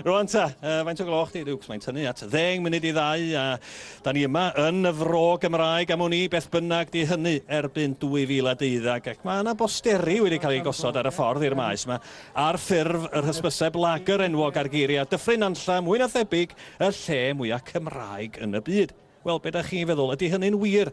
Rwan ta, uh, faint o gloch di, Luke? Mae'n tynnu at ddeng munud i ddau a da ni yma yn y fro Gymraeg am wn i beth bynnag di hynny erbyn 2012 ac mae yna bosteri wedi cael ei gosod ar y ffordd i'r maes yma ar ffurf yr hysbyseb lager enwog ar geiriau dyffryn anlla mwy na thebyg y lle mwyaf Cymraeg yn y byd. Wel, beth ydych chi'n feddwl? Ydy hynny'n wir?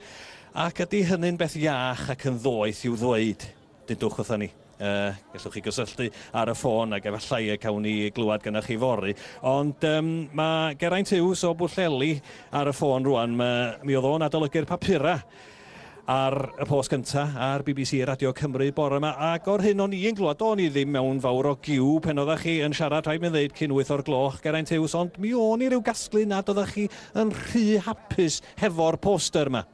Ac ydy hynny'n beth iach ac yn ddoeth i'w ddweud? Dudwch wrthon ni. Yy, gallwch chi gysylltu ar y ffôn ac efallai y cawn ni glywed gynnach chi fory. Ond um, mae Geraint Hughes o Bwllheli ar y ffôn rwan. Ma, mi oedd o'n adolygu'r papura ar y post cynta ar BBC Radio Cymru bore yma ac o'r hyn o'n i'n glwad o'n i ddim mewn fawr o giw pen oeddech chi yn siarad rhaid mi ddeud cyn 8 o'r gloch Geraint Hughes ond mi o'n i ryw gasglu nad oeddech chi yn rhy hapus hefo'r poster yma.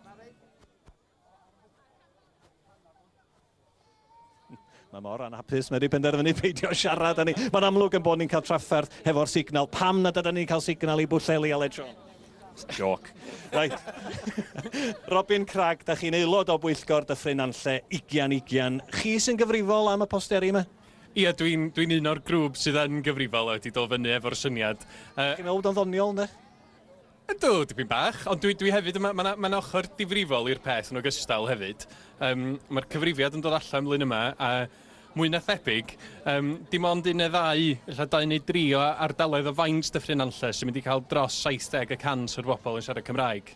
Mae mor anhapus, mae wedi penderfynu peidio siarad â ni. Mae'n amlwg yn bod ni'n cael trafferth hefo'r signal. Pam nad ydyn ni'n cael signal i Bwllheli, Aled Siôn? Joc. Right. Robin Crag, da chi'n aelod o bwyllgor Dyffryn Anlle, Igian Igian. Chi sy'n gyfrifol am y posteri yma? Ie, dwi'n dwi un o'r grŵp sydd yn gyfrifol a wedi dod fyny efo'r syniad. Uh, Chi'n meddwl bod o'n ddoniol, ynddo? Ydw, dipyn bach, ond dwi, dwi hefyd, mae yna ma ochr difrifol i'r peth yn ogystal hefyd. Um, Mae'r cyfrifiad yn dod allan mlyn yma, a mwy na thebyg, um, dim ond un neu ddau, illa dau neu dri o ardaloedd o faint Dyffryn Nantlle sy'n mynd i cael dros 70 y cant o'r bobl yn siarad Cymraeg.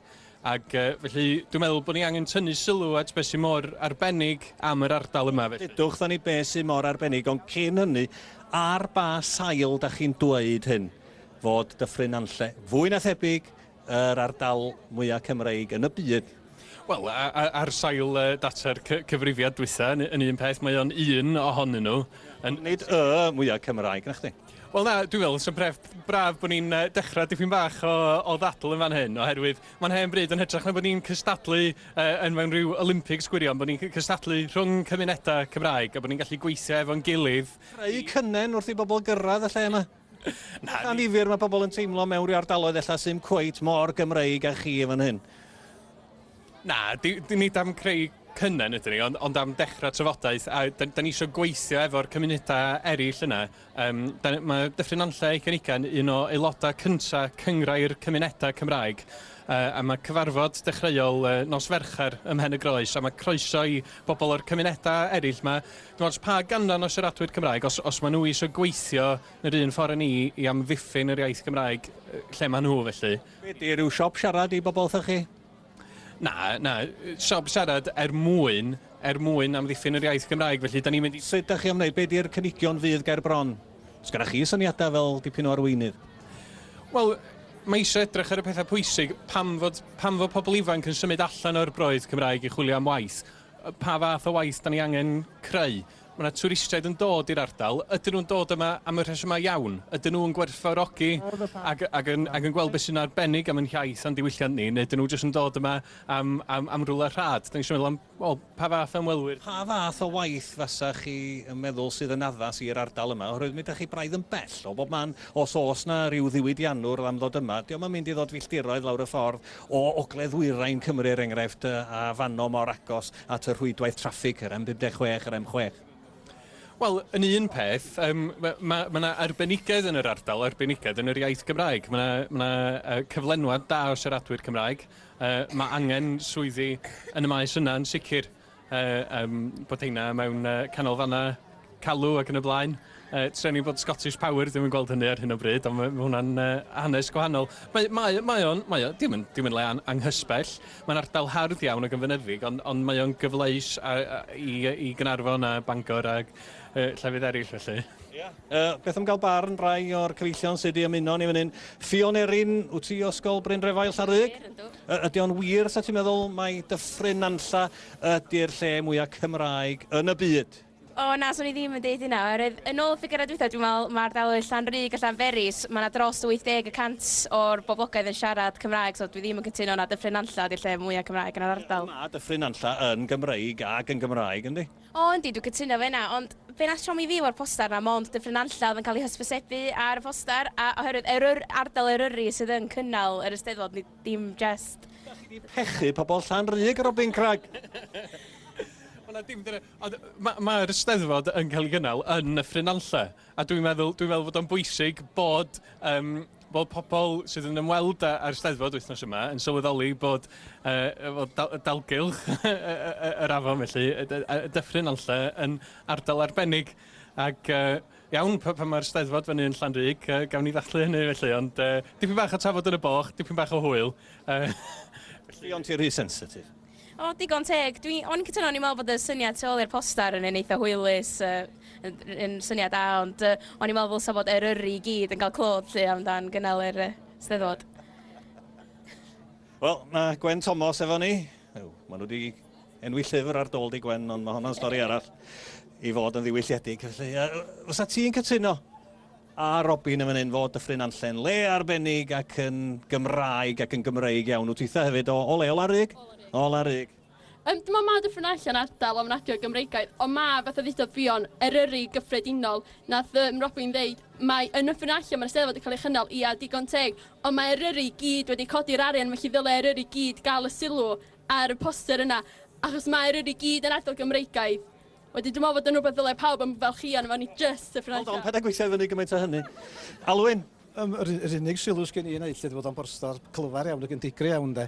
Ac uh, felly, dwi'n meddwl bod ni angen tynnu sylw at beth sy'n mor arbennig am yr ardal yma. Felly. Dydwch dda ni beth sy'n mor arbennig, ond cyn hynny, ar ba sail da chi'n dweud hyn? fod Dyffryn Nantlle fwy na thebyg yr ardal mwya' Cymreig yn y byd. Wel, ar sail data'r cyfrifiad dwytha, yn un peth, mae o'n un ohonyn nhw. Nid y mwya' Cymraeg, na chdi? Wel na, dwi'n meddwl, sy'n bref, braf bod ni'n uh, dechrau dipyn bach o, o ddadl yn fan hyn, oherwydd mae'n hen bryd yn hytrach na bod ni'n cystadlu uh, yn mewn rhyw Olympics gwirion, bod ni'n cystadlu rhwng cymunedau Cymraeg a bod ni'n gallu gweithio efo'n gilydd. Creu cynnen wrth i bobl gyrraedd y lle yma. Bach annifyr mae pobl yn teimlo mewn rhyw ardaloedd ella sy'n cweit mor Gymreig â chi yn fan hyn. Na, di, di, nid am creu cynnan ydyn ni, ond, ond am dechrau trafodaeth, a da, da ni eisiau gweithio efo'r cymunedau eraill yna. Um, da, mae Dyffryn Nantlle ei Cenigan un o aelodau cyntaf cyngrau'r cymunedau Cymraeg, uh, a mae cyfarfod dechreuol uh, nos Fercher ym Mhen y Groes, a mae croeso i bobl o'r cymunedau eraill. Mae Dim ots pa ganran o siaradwyr Cymraeg, os, os maen nhw eisiau gweithio yn yr un ffordd â ni i amddiffyn yr iaith Gymraeg lle maen nhw felly. Be di, rhyw siop siarad i bobl wrthych chi? Na, na, siop siarad er mwyn, er mwyn amddiffyn yr iaith Gymraeg felly da ni'n mynd i... Sut da chi am wneud, be di'r cynigion fydd ger bron? Sgynna chi syniadau fel dipyn o arweinydd? Wel, mae eisiau edrych ar y pethau pwysig, pam fod, pam fod pobl ifanc yn symud allan o'r broydd Cymraeg i chwilio am waith, Pa fath o waith da ni angen creu? Mae yna twristiaid yn dod i'r ardal. Ydyn nhw'n dod yma am y rhesymau iawn? Ydyn nhw'n gwerthfawrogi ac, ac, yn, ac yn gweld beth sy'n arbennig am yn hiaith a'n diwylliant ni? Neu ydyn nhw jyst yn dod yma am, am, am rwle rhad? Da ni eisiau meddwl am well, pa fath o ymwelwyr? Pa fath o waith fasa chi yn meddwl sydd yn addas i'r ardal yma? Oherwydd mi ydych chi braidd yn bell o bob man. Os oes yna ryw ddiwydiannwr am ddod yma, dio'm yn mynd i ddod filltiroedd lawr y ffordd o ogledd-ddwyrain Cymru er enghraifft, a fanno mor agos at y rhwydwaith traffig, yr M56, yr M6? Wel, yn un peth, um, mae ma, ma yna arbenigedd yn yr ardal, arbenigedd yn yr iaith Gymraeg. Mae yna, ma yna cyflenwad da o siaradwyr Cymraeg. Uh, mae angen swyddi yn y maes yna yn sicr. a yym bod heina mewn yy canolfannau calw ac yn y blaen. Yy treni bod Scottish Power ddim yn gweld hynny ar hyn o bryd ond mae ma' hwnna'n yy hanes gwahanol. Mae mae o mae o'n mae o dim yn dim yn le an- anghysbell. Mae'n ardal hardd iawn ac yn fynyddig ond ond mae o'n gyfleus a, a i yy i Gaernarfon a Bangor ag yy llefydd eraill felly. Ia. Yy beth am gael barn rai o'r cyfeillion sy' 'di ymuno â ni fan hyn. Ffion Erin, wyt ti o Ysgol Bryn Drefail, Llanrug? Ie, yndw. Y- ydy o'n wir 'sa ti'n meddwl mai Dyffryn Nantlla ydy'r lle mwya' Cymraeg yn y byd? O na, 'swn i ddim yn deud hynna, oherwydd yn ôl y ffigyrau dwytha, dwi'n meddwl ma' ardaloedd Llanrug a Llanberis, ma' 'na dros 80 y cant o'r boblogaidd yn siarad Cymraeg, so dwi ddim yn cytuno na Dyffryn Nantlla ydy'r lle mwya' Cymraeg yn yr ardal. Ma' Dyffryn Nantlla yn Gymreig ac yn Gymraeg, yndi? O yndi, dwi'n cytuno efo hynna, ond be wnaeth siomi fi efo'r poster 'na, mond Dyffryn Nantlle oedd yn cael ei hysbysebu ar y poster, a oherwydd Eryr- ardal Eryri sydd yn cynnal yr Eisteddfod, nid dim jest... Dach chi 'di pechu pobl Llanrug, Robin Cragg! Wel na, dim dyna, ond ma' ma'r Eisteddfod yn cael ei gynnal yn Nyffryn Nantlle, a dwi'n meddwl dwi'n meddwl fod o'n bwysig bod yym Mae pobl sydd yn ymweld â'r Steddfod wythnos yma yn sylweddoli bod dalgylch yr afon felly, Dyffryn Nantlle, yn ardal arbennig ac iawn pan mae'r Steddfod fyny yn Llanrug, gawn ni ddathlu hynny felly, ond dipyn bach o tafod yn y boch, dipyn bach o hwyl. Buont ti rhy sensitif? O, digon teg. Dwi, o'n i'n cytuno, o'n i'n meddwl bod y syniad tu ôl i'r poster yn un eitha hwylus, uh, yn, yn syniad da, ond uh, o'n i'n meddwl ddylsa bod eryri i gyd yn cael clod lle amdan gynnal yr uh, steddfod. Wel, mae Gwen Thomas efo ni. Ew, maen nhw wedi enwi llyfr ar dôl di Gwen, ond mae hwnna'n stori arall i fod yn ddiwylliedig. Felly, uh, fysa ti'n cytuno A Robin yn fan hyn fo Dyffryn Anllen. Le arbennig ac yn Gymraeg ac yn Gymreig iawn. Wyt twitha hefyd o, o le? O Larug? O Larug. Yym dwi me'wl ma' Dyffryn Nantlle yn ardal ofnadwy o Gymreigaidd ond ma' fatha ddudodd Ffion, Eryri gyffredinol, nath yym Robin ddeud mae yn Nyffryn Nantlle ma'r Steddfod yn cael ei chynnal, ia digon teg, ond mae Eryri i gyd wedi codi'r arian felly ddyle Eryri i gyd gael y sylw ar y poster yna achos ma' Eryri i gyd yn ardal Gymreigaidd Wedyn dwi'n meddwl fod yn rhywbeth ddylai pawb ymfalchïo arno fo, nid jyst y ffraeth. Hold on, paid â gweithio i fyny gymaint â hynny. Alwyn! Yym, yr, yr unig sylw sgen i yna lle fod o'n borstar clyfar iawn ac yn digri iawn de.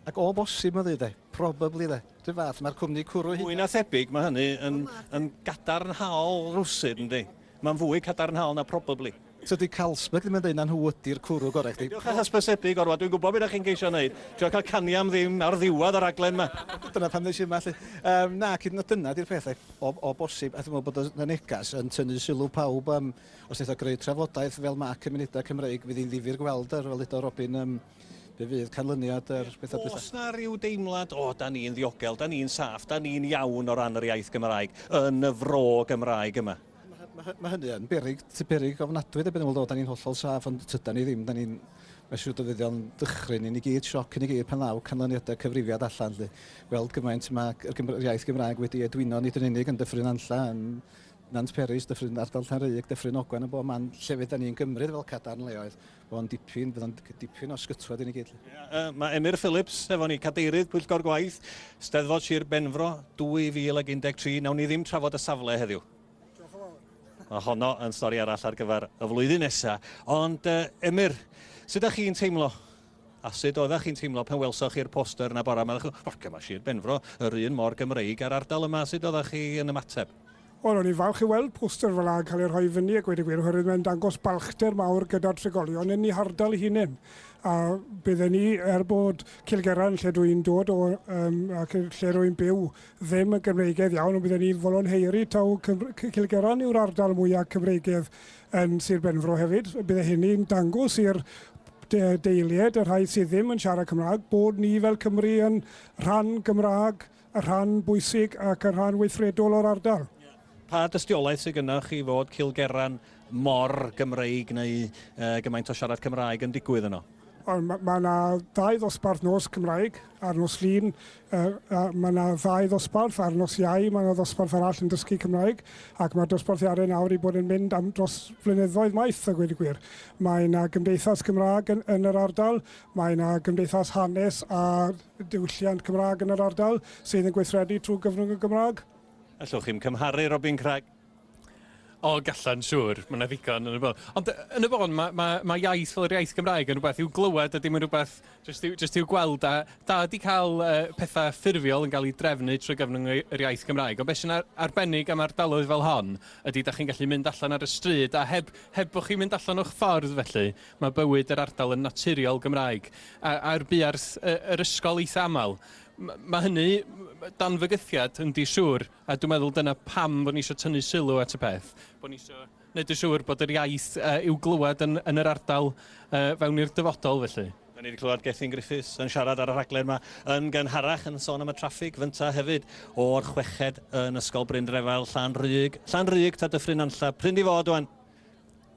Ac o bosib ma'n ddeud de, probably de, rhyw fath, mae'r cwmni cwrw hyd... Mwy na thebyg mae hynny yn, yn gadarnhaol rwsud yndi. Mae'n fwy cadarnhaol na probably. Tydi Carlsberg ddim yn deud na nhw ydi'r cwrw gorau i chdi. Peidiwch â hysbysebu gormod, dwi'n gwybod be da chi'n ceisio wneud, trio cael canu am ddim ar ddiwedd y rhaglen ma. Dyna pam nes i yma 'lly. Yym naci, dyna dyna 'di'r peth 'lly. O o bosib, a dwi'n meddwl bod y y neges yn tynnu sylw pawb yym os neith o greu trafodaeth fel ma' cymunedau Cymreig, fydd hi'n ddifyr gweld yr fel ddedodd Robin yym be fydd canlyniad yr petha dwytha. Oes 'na ryw deimlad, o da ni'n ddiogel, da ni'n saff, da ni'n iawn o ran yr iaith Gymraeg yn y fro Gymraeg yma? Mae hynny yn berig, sy'n berig ofnadwy ddebyg yn ôl, da ni'n hollol saff, ond tyda ni ddim, da ni'n mesur dyfyddion dychryn i ni gyd, sioc i ni gyd pan ddaw canlyniadau cyfrifiad allan. Lle. Weld gymaint mae yr iaith Gymraeg wedi edwino nid yn unig yn Dyffryn Anlla, yn Nant Peris, Dyffryn Ardal Llanrug, Dyffryn Ogwen yn bob man llefydd da ni'n gymryd fel cadarn leoedd. Bydd o'n dipyn, bydd o'n dipyn o sgytwad i ni gyd. Mae Emyr Phillips efo ni, cadeirydd Pwyllgor Gwaith, Steddfod Sir Benfro 2013. Nawn ni ddim trafod y safle heddiw. Mae honno yn stori arall ar gyfer y flwyddyn nesaf. Ond uh, Emyr, sut ydych chi'n teimlo A sut oeddech chi'n teimlo pan welsoch chi'r poster yna bora yma? Ddech chi'n, mae Sir Benfro yr un mor Gymreig a'r ardal yma. Sut oeddech chi yn ymateb? Wel, o'n i'n falch i weld poster fel 'na yn cael ei rhoi fyny a gweud y gwir, oherwydd mae'n dangos balchder mawr gyda'r trigolion yn ei hardal ei hunain. A bydden ni, er bod Cilgerran, lle dw i'n dod o, um, ac lle rwy'n byw, ddim yn Gymreigedd iawn, ond bydden ni'n volonheiri taw Cilgerran yw'r ardal mwyaf Cymreigedd yn Sir Benfro hefyd. Bydde hynny'n dangos i'r de deilied, y rhai sydd ddim yn siarad Cymraeg, bod ni fel Cymru yn rhan Gymraeg y rhan bwysig ac y rhan weithredol o'r ardal. Pa dystiolaeth sydd gynnwch chi fod Cilgerran mor Gymreig neu uh, gymaint o siarad Cymraeg yn digwydd yno? Mae yna ddau ddosbarth nos Cymraeg a'r nos lun. Mae yna ddau ddosbarth a'r nos iau. Mae yna ddosbarth arall yn dysgu Cymraeg ac mae'r dosbarth iau nawr i bod yn mynd am dros flynyddoedd maith a gweud y gwir. Mae yna gymdeithas Gymraeg yn, yn yr ardal, mae yna gymdeithas hanes a diwylliant Cymraeg yn yr ardal sydd yn gweithredu trwy gyfrwng y Gymraeg. Allwch chi'm cymharu Robin Craig? O, gallan, siŵr. Mae yna ddigon yn y bôn. Ond yn y bôn, mae, mae, mae iaith fel yr iaith Gymraeg yn rhywbeth i'w glywed a dim yn rhywbeth jyst i'w, just i'w gweld. A da wedi cael uh, pethau ffurfiol yn cael ei drefnu trwy gyfnod yr iaith Gymraeg. Ond beth sy'n ar arbennig am ardaloedd fel hon ydy, da chi'n gallu mynd allan ar y stryd a heb, heb bod chi'n mynd allan o'ch ffordd felly, Mae bywyd yr ardal yn naturiol Gymraeg, a a'r buarth y yr ysgol eitha aml. M- mae hynny dan fygythiad yndi siŵr, a dwi'n meddwl dyna pam bod ni isio tynnu sylw at y peth, bod ni isio neud yn siŵr bod yr iaith yy i'w glywed yn yn yr ardal yy fewn i'r dyfodol felly. Da ni 'di clywed Gethin Griffiths yn siarad ar y rhaglen 'ma yn gynharach yn sôn am y traffig fynta hefyd o'r chweched yn Ysgol Bryn Drefail, Llan Rug, Llan Rug, ta Dyffryn Nantlle, prin di fod ŵan!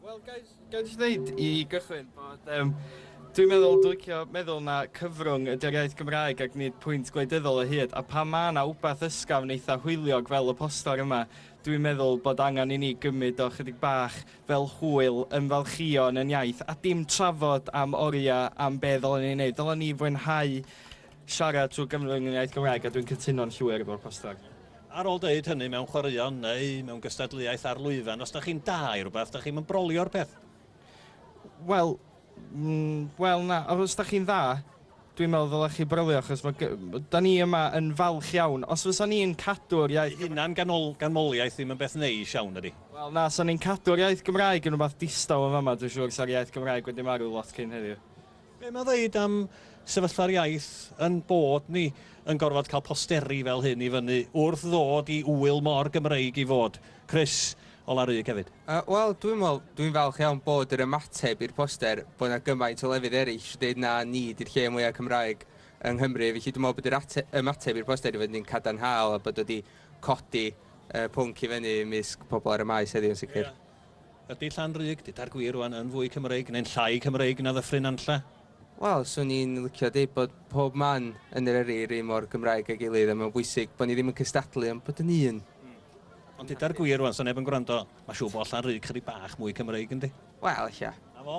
Wel, gael i ddweud i gychwyn bod... Um, Dwi'n meddwl, dwi'n licio meddwl na cyfrwng ydy'r iaith Gymraeg ac nid pwynt gwleidyddol o hyd, a pan mae yna wbath ysgafn eitha hwyliog fel y poster yma, dwi'n meddwl bod angen i ni gymryd o chydig bach fel hwyl, ymfalchio yn yn iaith, a dim trafod am oriau am be ddylen ni wneud. Dylen ni fwynhau Siarad trwy Gymru yn yr iaith Gymraeg a dwi'n cytuno'n llwyr efo'r poster. Ar ôl deud hynny mewn chwaraeon neu mewn gystadleuaeth ar lwyfan, os 'da chi'n da i rwbath, 'da chi'm yn brolio'r peth? Wel, wel na, os 'da chi'n dda, dwi'n meddwl ddylech chi brolio achos ma' 'da ni yma yn falch iawn. Os fysa ni'n cadw'r iaith... Hunan ganmoliaeth ddim yn beth neis iawn, na 'di? Wel na, 'sa ni'n cadw'r iaith Gymraeg yn rwbath distaw yn fama, dwi'n siŵr 'sa'r iaith Gymraeg wedi marw lot cyn heddiw. Be mae'n ddeud am sefyllfa'r iaith yn bod ni yn gorfod cael posteri fel hyn i fyny wrth ddod i ŵyl mor Gymreig i fod? Chris, o Larug hefyd. Yy, wel, dwi'n meddwl, dwi'n falch iawn bod yr ymateb i'r poster, bod 'na gymaint o lefydd eraill sy'n deud na ni ydy'r lle mwya' Cymraeg yng Nghymru, felly dwi'n meddwl bod yr ate- ymateb i'r poster 'di bod yn cadarnhaol a bod o 'di codi yy pwnc i fyny ymysg pobl ar y Maes heddiw yn sicr. Ydy Llanrug, dyda'r gwir rwan, yn fwy Cymreig neu'n llai Cymreig na Ddyffryn Nantlle? Wel, swn i'n licio deud bod pob man yn Eryri yr un mor Gymraeg â'i gilydd a mae'n bwysig bod ni ddim yn cystadlu ond bod yn un. Ond dyda'r gwir rwan, 'sa neb yn gwrando, mae'n siŵr bod Llanrug chydig bach mwy Cymreig, yndi? Wel, ella. 'Na fo.